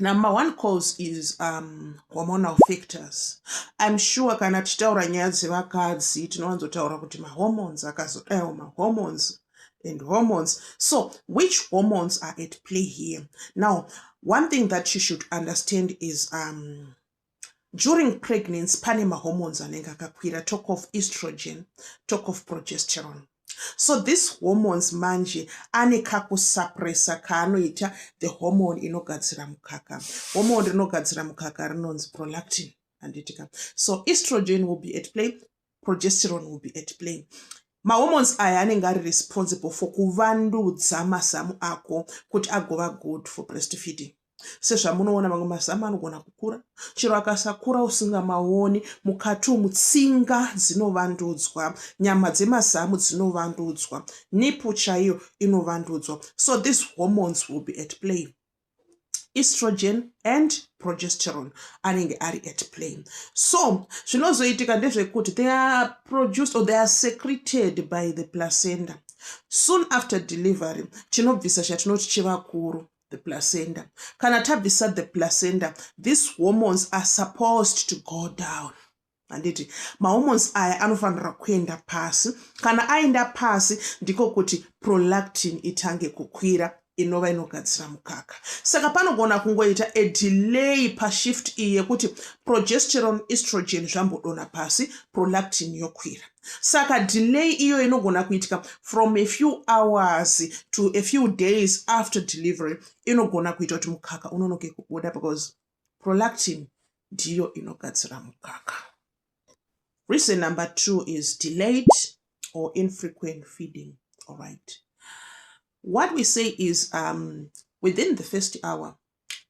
number one cause is um, hormonal factors im sure kana tichitaura nyaya dzevakadzi tinowanzotaura kuti mahormones akazodayo mahormones and hormones so which hormones are at play here now one thing that you should understand is um, during pregnancy pane mahormones anenge akakwira talk of estrogen talk of progesterone so this hormones manje ane kakusuppressa kaanoita the hormone inogadzira mukaka hormone rinogadzira mukaka rinonzi prolactin handitika so estrogen will be at play progesterone will be at play mahormones aya anenge ari responsible for kuvandudza mazamu ako kuti agova good for breastfeeding sezvamunoona mamwe mazamu anogona kukura chero akasakura usingamaoni mukati umu tsinga dzinovandudzwa nyama dzemazamu dzinovandudzwa nipu chaiyo inovandudzwa so these hormones will be at play estrogen and progesterone anenge ari at play so zvinozoitika ndezvekuti they are produced or they are secreted by the placenta soon after delivery chinobvisa chatinoti chivakuru the placenta kana tabvisa the placenta these hormones are supposed to go down handiti mahormones aya anofanira kuenda pasi kana aenda pasi ndiko kuti prolactin itange kukwira inova inogadzira mukaka saka panogona kungoita a delay pashift iyi yekuti progesteron estrogen zvambodona pasi prolactin yokwira saka delay iyo inogona kuitika from a few hours to a few days after delivery inogona kuita kuti mukaka unonoke kubuda because prolactin ndiyo inogadzira mukaka reason number two is delayed or infrequent feeding all right what we say is um, within the first hour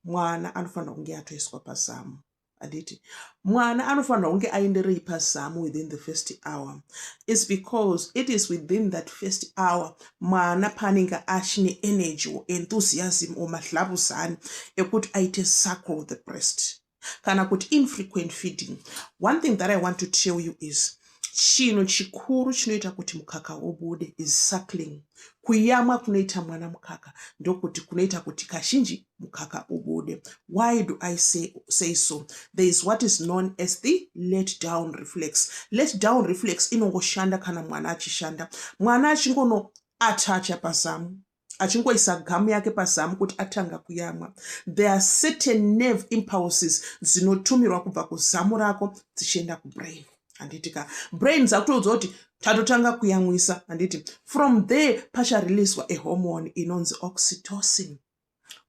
mwana anofanira kunge atoiswa pazamu handiti mwana anofanirwa kunge aenderei pazamu within the first hour is because it is within that first hour mwana paanenge achine energy or enthusiasm or mahlabuzani ekuti aite suckle the breast kana kuti infrequent feeding one thing that i want to tell you is chinhu chikuru chinoita kuti mukaka ubude is suckling kuyamwa kunoita mwana mukaka ndokuti kunoita kuti kazhinji mukaka ubude why do i say, say so there is what is known as the let down reflex let down reflex inongoshanda kana mwana achishanda mwana achingono atacha pazamu achingoisa gamu yake pazamu kuti atanga kuyamwa there are certain nerve impulses dzinotumirwa kubva kuzamu rako dzichienda kubrain handiti ka brain dzakutoudza kuti tatotanga kuyamwisa handiti from there pachareleaswa ehormone inonzi oxytocin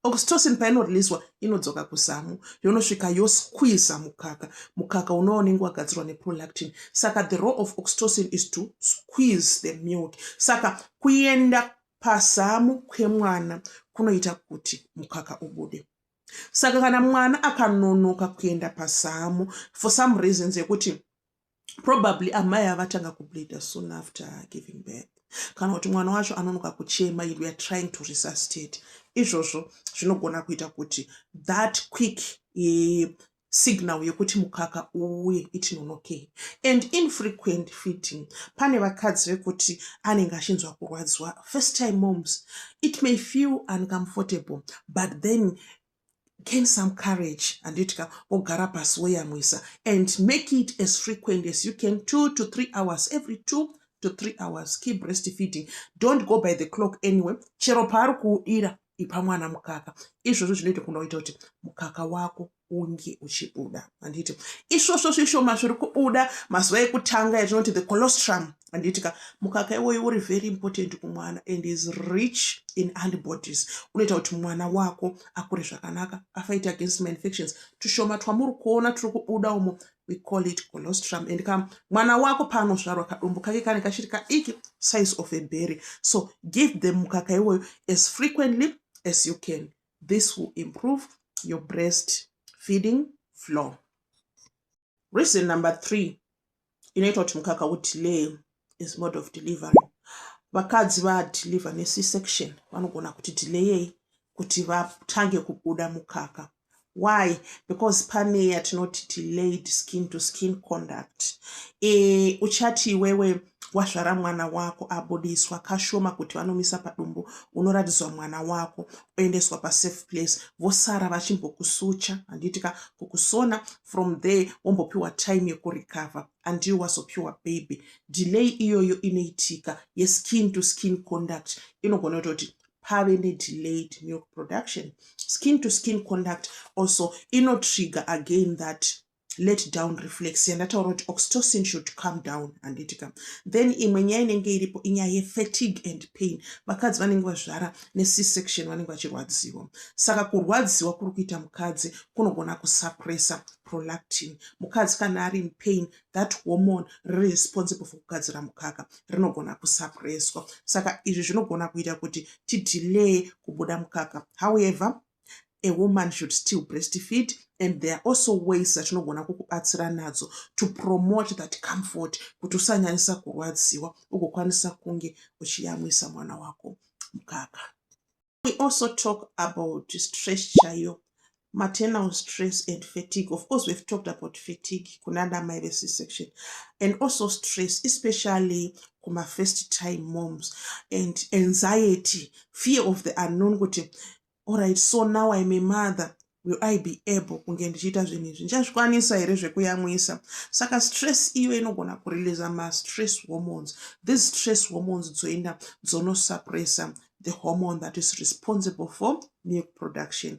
oxytocin painoriliswa inodzoka kuzamu yonosvika yosquiza mukaka mukaka unova unenge wagadzirwa neprolactin saka the role of oxytocin is to squeeze the milk saka kuenda pazamu kwemwana kunoita kuti mukaka ubude saka kana mwana akanonoka kuenda pazamu for some reasons yekuti probably amai avatanga kubleeder soon after giving birth kana kuti mwana wacho anonoka kuchema and weare trying to resuscitate izvozvo zvinogona kuita kuti that quick e, signal yekuti mukaka uye itinonokei and infrequent feeding pane vakadzi vekuti anenge achinzwa kurwadziwa first time moms it may feel uncomfortable but then gain some courage anditika ogara pasi woyamwisa and make it as frequent as you can two to three hours every two to three hours key breast feeding don't go by the clock anyway chero paari kuudira ipa mwana mukaka izvozvo zvinoita kuda kuita kuti mukaka wako unge uchibuda handiti isvosvo zvishoma zviri kubuda mazuva ekutanga yatinoti the colostrum handiti ka mukaka iwoyo uri very important kumwana and is rich in antibodies unoita kuti mwana wako akure zvakanaka afight against ma infections tushoma twamuri kuona turi kubuda umo we call it colostrum and ka mwana wako paanosvarwa kadumbu kake kane kachiri kadiki size of a berry so give them mukaka iwoyo as frequently as you can this will improve your breast feeding flow Reason number three inoita kuti mukaka udelay is mode of delivery. Vakadzi vadeliver nec section vanogona kuti delayei kuti vatange kubuda mukaka why because pane yatinoti delayed skin to skin conduct e, uchati iwewe wazvara mwana wako abudiswa kashoma kuti vanomisa padumbu unoratidzwa mwana wako oendeswa pasafe place vosara vachimbokusucha handiitika kukusona from there wombopiwa time yekurecover andiyo wazopiwa baby delay iyoyo inoitika yeskin to skin conduct inogona kutoti pave nedelayed milk production skin to skin conduct also inotrigger again that let down reflex yandataura kuti oxytocin should come down handiti ka then imwe nyaya inenge iripo inyaya yefatigue and pain vakadzi vanenge vazvara nec section vanenge vachirwadziwa saka kurwadziwa kuri kuita mukadzi kunogona kusuppressa prolactin mukadzi kana ari inpain that hormone riri responsible for kugadzira mukaka rinogona kusuppresswa saka izvi zvinogona kuita kuti tidelaye kubuda mukaka however a woman should still breastfeed and there are also ways dzatinogona kukubatsira nadzo to promote that comfort kuti usanyanyisa kurwadziwa ugokwanisa kunge uchiyamwisa mwana wako mukaka we also talk about stress chaiyo maternal stress and fatigue of course we've talked about fatigue kunana mai vec section and also stress especially kuma first time moms and anxiety fear of the unknown kuti Alright, so now I'm a mother will I be able kunge ndichiita zvinhu izvi ndichazvikwanisa here zvekuyamwisa saka stress iyo inogona kureleasa mastress hormones these stress hormones dzoenda dzonosuppressa the hormone that is responsible for milk production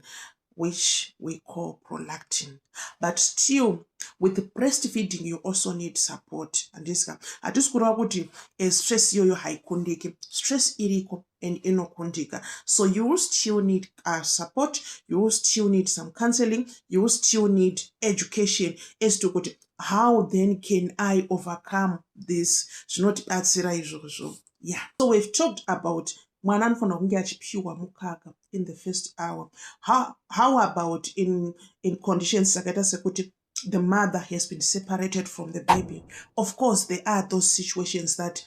which we call prolactin but still with breastfeeding you also need support andisika hatisi kureva kuti eh, stress iyoyo haikundiki stress iriko and inokundika so you will still need uh, support you will still need some counseling you will still need education as to kuti how then can i overcome this zvinotibatsira izvozvo yeah so we've talked about mwana anofanira kunge achipiwa mukaka in the first hour how, how about in, in conditions dzakaita sekuti the mother has been separated from the baby of course there are those situations that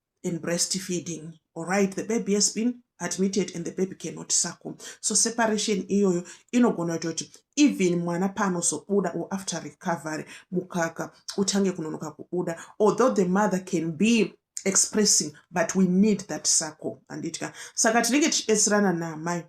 in breastfeeding alright the baby has been admitted and the baby cannot suckle so separation iyoyo inogona kuita kuti even mwana paanozobuda or after recovery mukaka utange kunonoka kubuda although the mother can be expressing but we need that suckle handitya saka tinenge tichibetserana naamai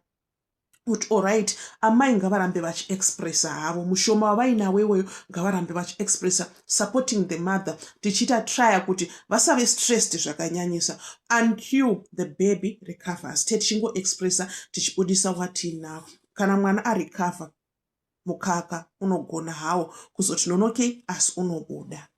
kuti orit amai ngavarambe vachiexpressa havo mushoma wavainawo iwoyo ngavarambe vachiexpressa supporting the mother tichiita trya kuti vasave stressed zvakanyanyisa until the baby recovers te tichingoexpressa tichibudisa watiinavo kana mwana arecover mukaka unogona hawo kuzoti nonokei asi unobuda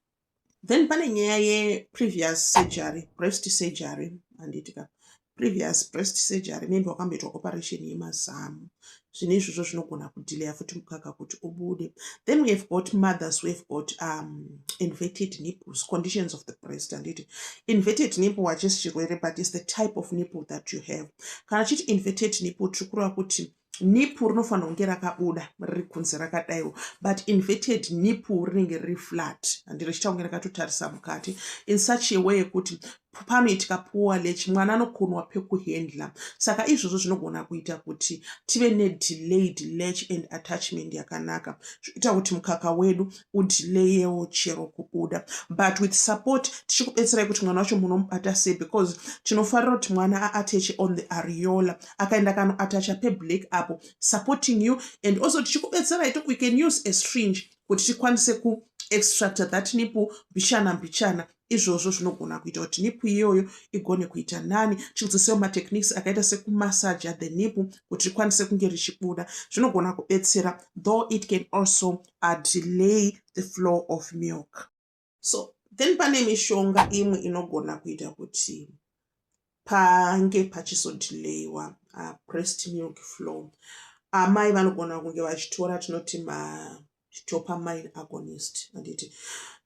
then pane nyaya yeprevious surgery breast surgery handitika previous breast surgery maybe wakamboitwa operation yemazamu zvine izvozvo zvinogona kudileya futi mukaka kuti ubude then we have got mothers we have got um, inverted nipples conditions of the breast anditi inverted nipple wachisi chirwere but is the type of nipple that you have kana chiti inverted nipple tiri kureva kuti nipu rinofanira kunge rakabuda riri kunze rakadaiwo but inverted nipu rinenge riri flat handi richiita kunge rakatotarisa mukati in such a way yekuti panoitika poor lech mwana anokonwa pekuhandla saka izvozvo zvinogona kuita kuti tive nedelayed lech and attachment yakanaka zvoita kuti mukaka wedu udelayewo chero kubuda but with support tichikubetserai kuti mwana wacho munomubata sei because tinofarira kuti mwana aateche on the ariola akaenda kano atacha peblack apo supporting you and also tichikubetserai to we can use a stringe kuti tikwanise ku extracta that nipo mbichana mbichana izvozvo zvinogona kuita kuti nipo iyoyo igone kuita nani tichidzisewo matechniques akaita sekumassaja the nipo kuti rikwanise kunge richibuda zvinogona kubetsera though it can also uh, delay the flow of milk so then pane mishonga imwe inogona kuita kuti pange pachisodhileyiwa uh, prest milk flow amai vanogona kunge vachitora tinoti madopamine agonist anditi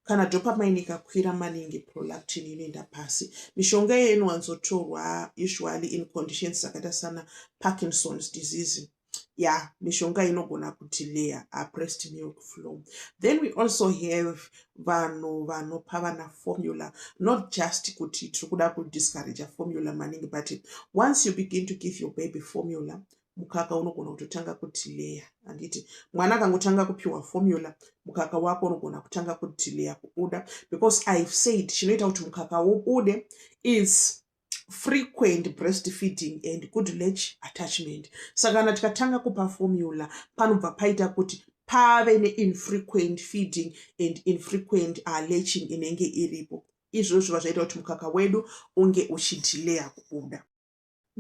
kana dopamine ikakwira maningi prolactin inoenda pasi mishonga iyoyo inowanzotorwa usually in conditions dzakaita sana parkinson's disease yeah mishonga inogona kuti layer a pressed milk flow then we also have vanhu vanopa vana formula not just kuti tiri kuda kudiscourage formula maningi but once you begin to give your baby formula mukaka unogona kutotanga kudhileya handiti mwana akangotanga kupiwa formula mukaka wako unogona kutanga kudhileya kubuda because ihave said chinoita kuti mukaka ubude is frequent breastfeeding and good latch attachment saka kana tikatanga kupa formula panobva paita kuti pave neinfrequent feeding and infrequent uh, latching inenge iripo izvozvo zviva zvaita kuti mukaka wedu unge uchidelaya kubuda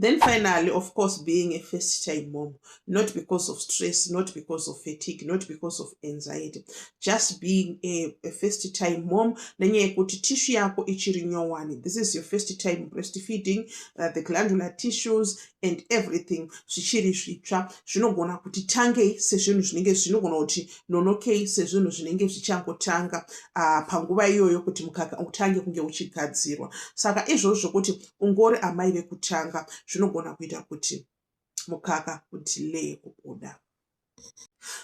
then finally of course being a first time mom not because of stress not because of fatigue not because of anxiety just being a, a first time mom nenyaya yekuti tishu yako ichiri nyowani this is your first time breastfeeding uh, the glandular tissues and everything zvichiri zvitsva zvinogona kuti tangei sezvinhu zvinenge zvinogona kuti nonokei sezvinhu zvinenge zvichangotanga uh, panguva iyoyo kuti mukaka utange kunge uchigadzirwa saka izvozvo kuti ungori amai vekutanga zvinogona kuita kuti mukaka kuti lee kubuda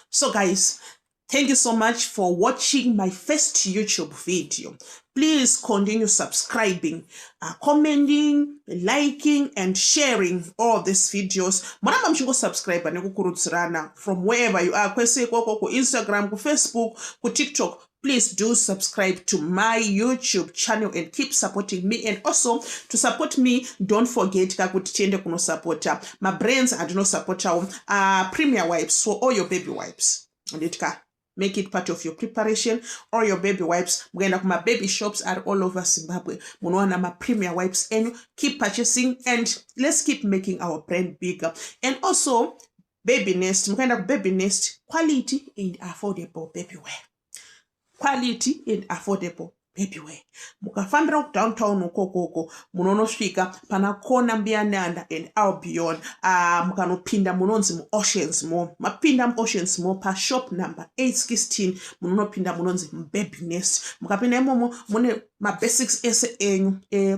so guys thank you so much for watching my first youtube video please continue subscribing uh, commenting liking and sharing all these videos muramba muchingosubscribe nekukurudzirana from wherever you are kwese ikoko kuinstagram kufacebook kutiktok please do subscribe to my youtube channel and keep supporting me and also to support me don't forget ka kuti tiende kunosapota mabrands andinosapotawo uh, ah, premier wipes for all your baby wipes anditi ka make it part of your preparation or your baby wipes mukaenda kumababy shops are all over zimbabwe munowana mapremier wipes enyu keep purchasing and let's keep making our brand bigger and also baby nest mukaenda kubaby nest quality and affordable babyware quality and affordable babyware mukafambira kudowntown ukokoko munonosvika pana kona mbiyananda and albion ah, mukanopinda munonzi muoceans mo mapinda muoceans mo pashop number 816 munonopinda munonzi mubaby nest mukapinda imomo mune mabasics ese enyu e